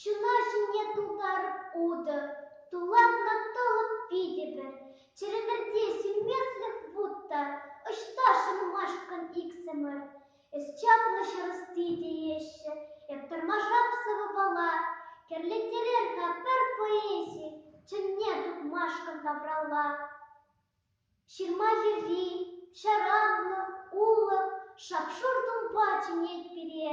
Ҫуна ҫине тултарӑп утӑ, тулатна тӑлӑп питӗпӗр. Чӗрӗмӗрте сӳнмесӗрех вут та, ӑҫта шӑнмашкӑн иксӗмӗр. Эс чаплӑ ҫӗр ӑсти тееҫҫӗ, эп тӑрмашап сӑвӑпала. Кӗрлеттерер-ха пӗр поэзи, чӑнне тупмашкӑн тавралла. Ҫырма йӗри, ҫаранлӑ, улӑ, шап-шур тумпа чӗнет пире.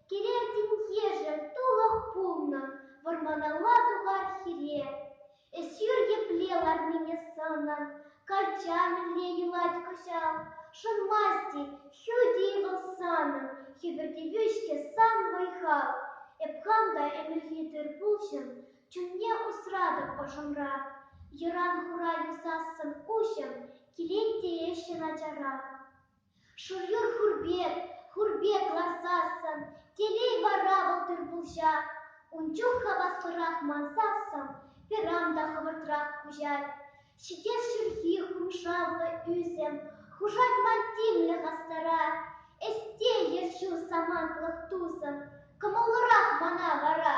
Килер тинкешӗ, тулӑх пулнӑ, вӑрманалла тухар хире. Эсир епле ларнине сӑнӑн, калча мӗнле юлать кӑҫал? Шӑнмасть-и, ҫути вӑл санӑн, хӗпӗртевӳ-ҫке сан вӑй-хал. Эп хам та ӗмӗрхи тыр-пулҫӑм, Чунне усратӑп ӑшӑмра, Йӑран-хура юсассӑн куҫӑм Килет теесчӗ начара. Шурьюр хур пек, хур пек ласассӑн, Телей вара вӑл тыр-пулҫа. Ун чух хаваслӑрах мансассӑн Пирам та хӑвӑртрах куҫать. Ҫитес ҫурхи хумшавлӑ ӳсӗм Хушать ман тимлӗх астарать. Эсте, ерҫӳ самантлӑх тусӑм, Кӑмӑллӑрах мана вара.